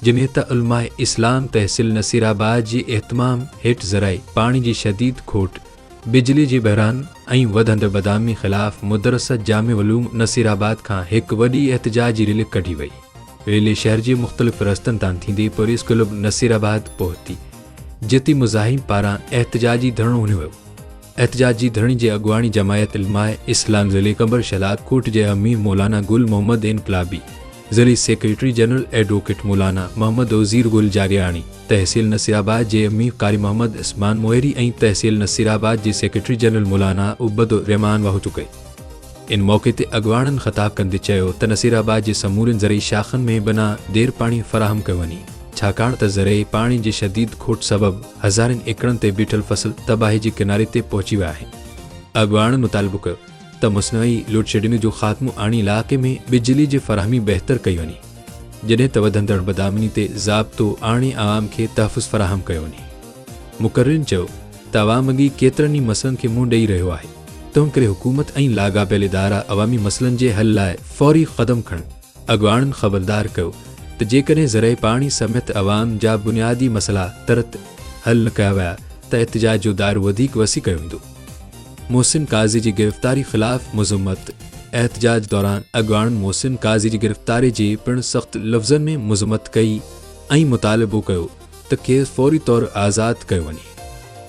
جنھن تھ علماء اسلام تحصيل نصيرآباد جي اھتمام ھيٺ ذرائع پاڻي جي شديد کوٽ، بجلي جي بحران ۽ وڌندڙ بدامني خلاف مدرسه جامع علوم نصيرآباد کان ھڪ وڏي احتجاجي ريلي ڪڍي وئي. ريلي شھر جي مختلف رستن تان ٿيندي پريس ڪلب نصيرآباد پهتي، جتي مزاحم پاران احتجاجي ڌرڻو ھنيو ويو. احتجاجي ڌرڻي جي اڳواڻي جماعت علماء اسلام ضلعي قمبر شھدادڪوٽ جي امير مولانا گل محمد انقلابي، زرعي secretary general advocate Maulana Muhammad Uzair Gul Jariani, تحصيل نصيرآباد جي امين قاري محمد عثمان موهري ۽ تحصيل نصيرآباد جي سيڪريٽري جنرل مولانا عبد الرحمان واهوٽو ڪئي. ان موقعي تي اڳواڻن خطاب ڪندي چيو ته نصيرآباد جي سمورين زرعي شاخن ۾ بنا دير پاڻي فراهم ڪيو وڃي ڇاڪاڻ ته زرعي پاڻي جي شديد کوٽ سبب هزارين ايڪڙن تي بيٺل فصل تباهي جي ڪناري تي پهچي ويا آهن. اڳواڻن مطالبو ڪيو ته مصنوعي لوڊشيڊنگ جو خاتمو آڻي علائقي ۾ بجلي جي فراهمي بهتر ڪئي وڃي، جڏهن ته وڌندڙ بدامني تي ضابطو آڻي عوام کي تحفظ فراهم ڪيو وڃي. مقررين چيو ته عوام اڳي ڪيترن ئي مسئلن کي منهن ڏئي رهيو آهي، تنهنڪري حڪومت ۽ لاڳاپيل ادارا عوامي مسئلن جي حل لاء فوري قدم کڻن. اڳواڻن خبردار ڪيو ته جيڪڏهن ذريعي پاڻي سميت عوام جا بنيادي مسئلا ترت حل نه ڪيا ويا ته احتجاج جو دائرو وڌيڪ وسيع ڪيو ويندو. محسن قاضي جي گرفتاري خلاف مذمت، احتجاج دوران اڳواڻن محسن قاضي جي گرفتاري جي پڻ سخت لفظن ۾ مذمت ڪئي ۽ مطالبو ڪيو ته کيس فوري طور آزاد ڪيو وڃي.